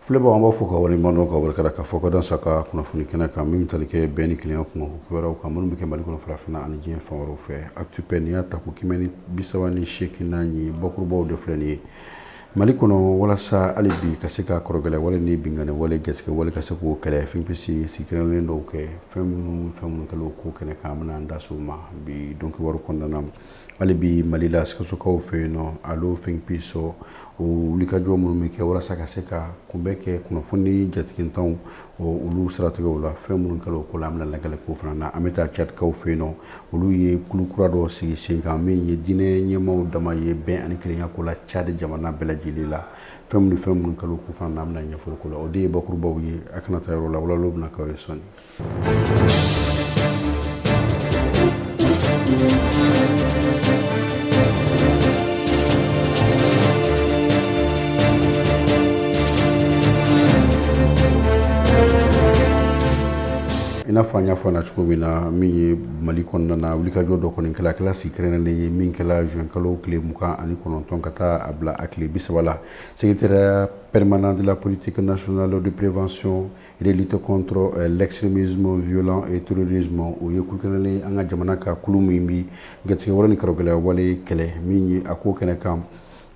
Filɛbagaw an b'aw fo k'aw wale ɲuman dɔn k'aw barika da k'aw fo k'aw dansɛ aw ka kunnafoni kɛnɛ kan min bɛ tali kɛ bɛn ni kelenya kuma wɛrɛw kan minnu bɛ kɛ mali kɔnɔ farafinna ani diɲɛ fan wɛrɛw fɛ Actu Paix nin y'a tako kɛmɛ ni bisaba ni seeginnan ye bakurubaw de filɛ nin ye mali kɔnɔ walasa hali bi ka se ka kɔrɔgɛlɛ wale ni binkanni wale jatigɛwale ka se k'o kɛlɛ Think Peace sigi kɛrɛnlen dɔw kɛ fɛn minnu fɛn minnu kɛla o ko kɛnɛ kan an bɛna an da s'o ma bi don kibaru kɔnɔna na hali bi mali la sikasokaw fɛ yen nɔ alo Think Peace o wulikajɔ minnu bɛ kɛ walasa ka se ka kunbɛn kɛ kunnafoni jatigitanw olu siratigɛw la fɛn minnu kɛra o ko la an bɛna lajɛli k'o fana na an bɛ taa cadikaw fɛ yen nɔ olu ye kulu kura dɔ sigi sen kan min ye diinɛ ɲɛmaaw dama ye bɛn ani kelenya ko la cadi jamana bɛɛ lajɛlen la fɛn minnu fɛn minnu kɛra o ko fana na an bɛna ɲɛfɔli k'o la o de ye bakurubaw ye a kana taa yɔrɔ la walawala bɛna k'aw ye sɔɔni i n'a fɔ an y'a fɔ na cogo min na min ye mali kɔnɔna na wulikajɔ dɔ kɔni kɛla kɛla sigi kɛrɛnkɛrɛnnen ye min kɛla juin kalo tile mugan ani kɔnɔntɔn ka taa a bila a tile bisaba la secrétariat permanent de la politique nationale de prévention Et de lutte contre l'extrémisme violent et terrorisme o ye kulu kɛrɛnnen ye an ka jamana ka kulu min bi jatigɛwale ni karɔgɛlɛya wale kɛlɛ min ye a ko kɛnɛ kan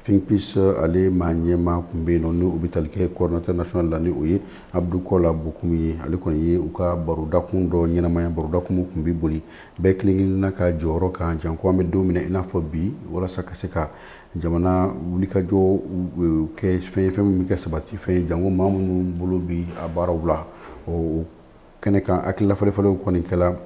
Think Peace ale maa ɲɛmaa tun bɛ yen nɔ ni o bɛ tali kɛ coordinateur national la ni o ye Abdou Kola Bocoum ye ale kɔni ye u ka barodakun dɔ ɲɛnamaya barodakun min tun bɛ boli bɛɛ kelen-kelenna ka jɔyɔrɔ kan janko an bɛ don min na i n'a fɔ bi walasa ka se ka jamana wulikajɔ kɛ fɛn fɛn min bɛ kɛ sabati fɛn ye janko maa minnu bolo bi a baaraw la o kɛnɛ kan hakililafalenfalenw kɔni kɛra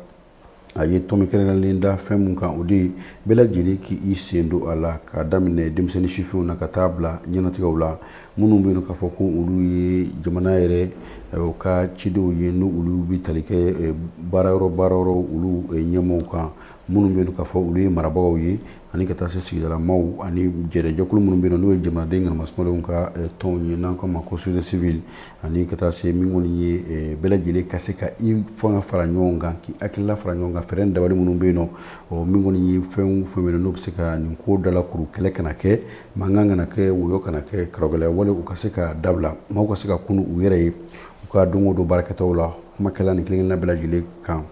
a ye tɔmi kɛrɛnlen da fɛn min kan o de ye bɛɛ lajɛlen k'i sen don a la k'a daminɛ denmisɛnnin sifinw na ka taa bila ɲɛnatigɛw la minnu bɛ yen k'a fɔ ko olu ye jamana yɛrɛ u ka cidenw ye n' olu bɛ tali kɛ baara yɔrɔ baara yɔrɔ olu ɲɛmɔgɔ kan minnu bɛ yen k'a fɔ olu ye marabagaw ye ani ka taa se sigidala maaw ani jɛrɛjɛkulu minnu bɛ n'o ye jamanaden kanamaswaw ka tɔnw ye n'an k'a ma ko société civile ani ka taa se min kɔni ye bɛɛ lajɛlen ka se ka i fanga fara ɲɔgɔn kan k'i hakilila fara ɲɔgɔn kan fɛɛrɛ dabali minnu bɛ yen nɔ ɔ min kɔni ye fɛn fɛn bɛ yen n'o bɛ se ka nin ko dalakuru kɛlɛ kana kɛ mankan kana kɛ wɔyɔ kana kɛ karɔgɛlɛya walew ka se ka dabila maaw ka se ka kun u yɛrɛ ye u ka don o don baarakɛtaw la kuma kɛla nin kelenna bɛɛ lajɛlen kan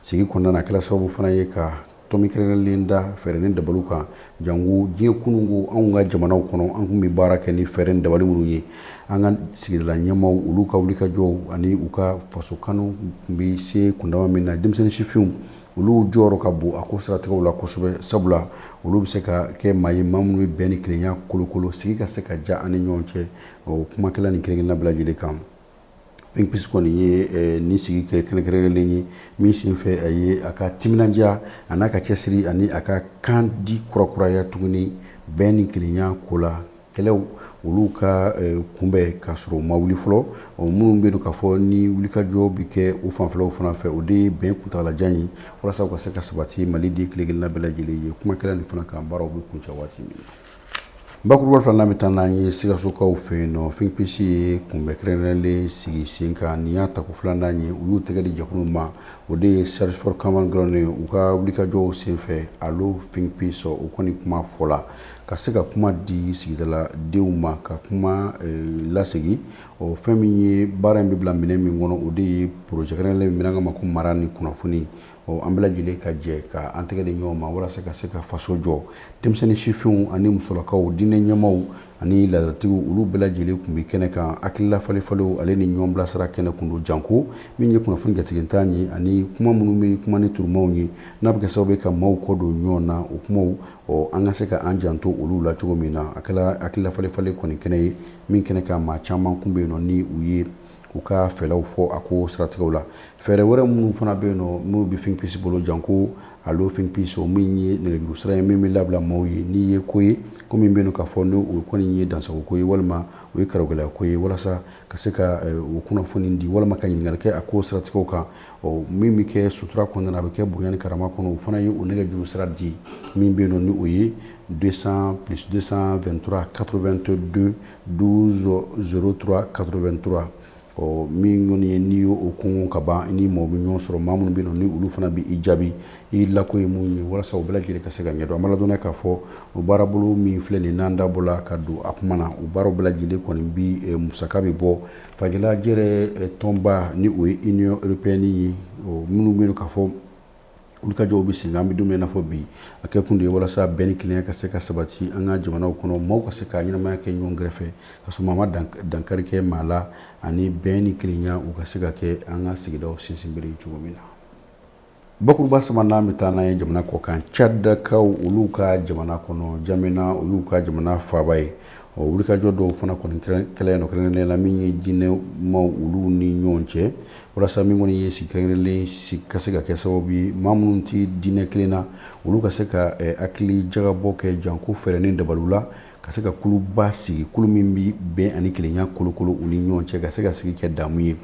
sigi kɔnɔna na a kɛla sababu fana ye ka Tɔmi kɛrɛnkɛrɛnlen da fɛɛrɛ ni dabaliw kan janko diɲɛ kununko anw ka jamanaw kɔnɔ an tun bɛ baara kɛ ni fɛɛrɛ ni dabali minnu ye an ka sigidala ɲɛmaaw olu ka wulikajɔw ani u ka faso kanu tun bɛ se kundama min na denmisɛnnin sifinw olu jɔyɔrɔ ka bon a ko siratigɛw la kosɛbɛ sabula olu bɛ se ka kɛ maa ye maa minnu bɛ bɛn ni kelenya kolokolo sigi ka se ka ja an ni ɲɔgɔn cɛ o kuma kɛla nin kelen-kelenna bɛɛ lajɛlen kan Finpisi kɔni ye nin sigi kɛ kɛrɛnkɛrɛnlen ye min senfɛ a ye a ka timinandiya an'a ka cɛsiri ani a ka kan di kurakuraya tuguni bɛn ni kelenya ko la kɛlɛ olu ka kunbɛn k'a sɔrɔ u ma wuli fɔlɔ o minnu bɛ yen k'a fɔ ni wulikajɔ bɛ kɛ u fanfɛlaw fana fɛ o de ye bɛn kuntaalajan ye walasa ka se ka sabati Maliden kelen-kelenna bɛɛ lajɛlen ye kuma kɛra nin fana kan baaraw bɛ kuncɛ waati min Bakuruba filanan bɛ taa n'an ye Sikasokaw fɛ yen nɔ finpisi ye kunbɛn kɛrɛnkɛrɛnlen sigi sen kan nin y'a tako filanan ye u y'u tɛgɛ di jɛkulu ma o de ye Search for Common Ground ye u ka wulikajɔw senfɛ alo finpisi o kɔni kuma fɔ la ka se ka kuma di sigidaladenw ma ka kuma lasegin o fɛn min ye baara in bɛ bila minɛ min kɔnɔ o de ye poroze kɛrɛnkɛrɛnlen min an k'a ma ko mara ni kunnafoni ɔ an bɛɛ lajɛlen ka jɛ ka an tɛgɛ di ɲɔgɔn ma walasa ka se ka faso jɔ denmisɛnnin sifinw ani musolakaw diinɛ ɲɛmaaw ani laadatigiw olu bɛɛ lajɛlen tun bɛ kɛnɛ kan hakilila falen-falenw ale ni ɲɔgɔn bilasira kɛnɛ kun don janko min ye kunnafoni jatigitan ye ani kuma minnu bɛ kuma ni turumaw ye n'a bɛ kɛ sababu ye ka maaw kɔ don ɲɔgɔn na o kumaw ɔ an ka se ka an janto olu la cogo min na a kɛra hakilila falen-falen kɔni kɛnɛ ye min kɛnɛ kan maa caman kun bɛ yen nɔ ni u ye u ka fɛlaw fɔ a ko siratigɛw la fɛɛrɛ wɛrɛ minnu fana bɛ yen nɔ n'u bɛ finpisi bolo janko alo finpisi o min ye nɛgɛjuru sira ye min bɛ labila maaw ye n'i ye ko ye ko min bɛ yen k'a fɔ n'o kɔni ye dansagon ko ye walima o ye karɔgɛlɛya ko ye walasa ka se ka eh, o kunnafoni di walima ka ɲininkali kɛ a ko siratigɛw kan ɔ min bɛ kɛ sutura kɔnɔna a bɛ kɛ bonya ni karama kɔnɔ o fana ye o nɛgɛjuru sira di min bɛ yen nɔ ni o ye 200 plus 223 82 12 03 83 ɔ min kɔni ye n'i y'o kun ka ban ni mɔgɔ bɛ ɲɔgɔn sɔrɔ maa minnu bɛ yen nɔ ni olu fana bɛ i jaabi i lako ye mun ye walasa o bɛɛ lajɛlen ka se ka ɲɛdɔn an b'a ladɔnniya k'a fɔ o baarabolo min filɛ nin n'an da bɔla ka don a kuma na o baara bɛɛ lajɛlen kɔni bi musaka bɛ bɔ farajɛla jɛrɛ tɔnba ni o ye Union Européenne ye minnu bɛ yen k'a fɔ wulikajɔw bɛ senna an bɛ don min na fɔ bi a kɛ kun de ye walasa bɛn ni kelenya ka se ka sabati an ka jamanaw kɔnɔ maaw ka se ka ɲɛnamaya kɛ ɲɔgɔn kɛrɛfɛ ka sɔrɔ maa ma dankari kɛ maa la ani bɛn ni kelenya u ka se ka kɛ an ka sigidaw sinsinbere cogo min na bakuruba sabanan bɛ taa n'an ye jamana kɔkan Cadikaw olu ka jamana kɔnɔ Jamena o y'u ka jamana faaba ye ɔ wulikajɔ dɔw fana kɔni kɛla yen nɔ kɛrɛnkɛrɛnnen la min ye diinɛ ɲɛmaaw olu ni ɲɔgɔn cɛ walasa min kɔni ye sigi kɛrɛnkɛrɛnlen sigi ka se ka kɛ sababu ye maa minnu tɛ diinɛ kelen na olu ka se ka eh, hakili jagabɔ kɛ janko fɛɛrɛ ni dabaliw la ka se ka kuluba sigi kulu min bɛ bɛn ani kelenya kolokolo u ni ɲɔgɔn cɛ ka se ka sigi kɛ damu ye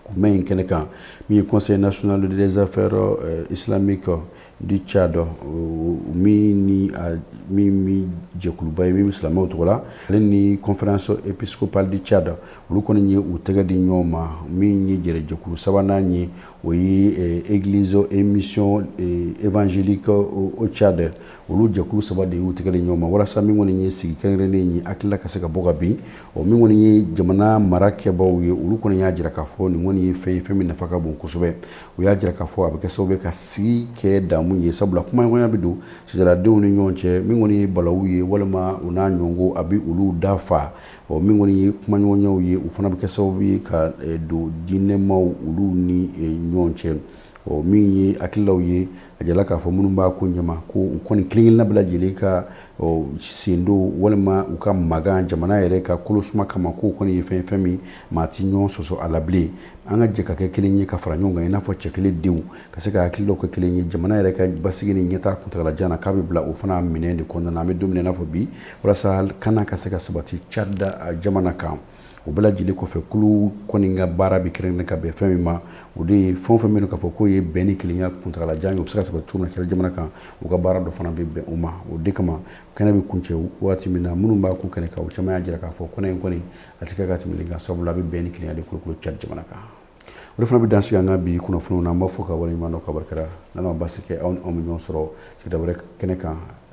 kunbɛn in kɛnɛ kan min ye conseil national des affaires eh, islamiques du Tchad min ni min jɛkuluba ye min bɛ silamɛw tɔgɔ la ale ni conférence épiscopale du Tchad olu kɔni ye u tɛgɛ di ɲɔgɔn ma min ye jɛkulu sabanan ye o ye église et mission évangélique au Tchad olu jɛkulu saba de y'u tɛgɛ di ɲɔgɔn ma walasa min kɔni ye sigi kɛrɛnkɛrɛnnen ye hakilila ka se ka bɔ ka bin min kɔni ye jamana marakɛbaw ye olu kɔni y'a jira k'a fɔ nin kɔni ye fɛn ye fɛn min nafa ka bon kosɛbɛ u y'a jira k'a fɔ a bɛ kɛ sababu ye ka sigi kɛ damu ye sabula kumaɲɔgɔnya bɛ don sigidaladenw ni ɲɔgɔn cɛ min kɔni ye balawu ye walima u n'a ɲɔgɔnko a bɛ olu dafa ɔ min kɔni ye kumaɲɔgɔnyaw ye u fana bɛ kɛ sababu ye ka eh, don diinɛmaw olu ni eh, ɲɔgɔn cɛ ɔ min ye hakililaw ye A jirala k'a fɔ minnu b'a ko ɲɛma ko u kɔni kelen-kelenna bɛɛ lajɛlen ka sen don walima u ka magan jamana yɛrɛ ka kolo suma kama k'o kɔni ye fɛn ye fɛn min maa tɛ ɲɔgɔn sɔsɔ a la bilen an ka jɛ ka kɛ kelen ye ka fara ɲɔgɔn kan i n'a fɔ cɛ kelen denw ka se ka hakililaw kɛ kelen ye jamana yɛrɛ ka basigi ni ɲɛtaa kuntaalajan k'a bɛ bila o fana minɛn de kɔnɔna an bɛ don min na i n'a fɔ bi walasa kana ka se ka sabati Tchad jamana kan o bɛɛ lajɛlen kɔfɛ kulu kɔni ka baara bɛ kɛrɛnkɛrɛn ka bɛn fɛn min ma o de ye fɛn o fɛn bɛ yen k'a fɔ k'o ye bɛn ni kelenya kuntaalajan ye o bɛ se ka sɔrɔ cogo min na Tchad jamana kan u ka baara dɔ fana bɛ bɛn o ma o de kama kɛnɛ bɛ kuncɛ waati min na minnu b'a ko kɛnɛ kan o caman y'a jira k'a fɔ ko nin kɔni a tɛ kɛ ka tɛmɛ nin kan sabula a bɛ bɛn ni kelenya de kolokolo Tchad jamana kan o de fana bɛ dan sigi an ka bi kunnafoniw na an b'a fɔ ka waleɲuman dɔn ka barika da n'Ala ma baasi kɛ aw ni anw bɛ ɲɔgɔn sɔrɔ sigida wɛrɛ kɛnɛ kan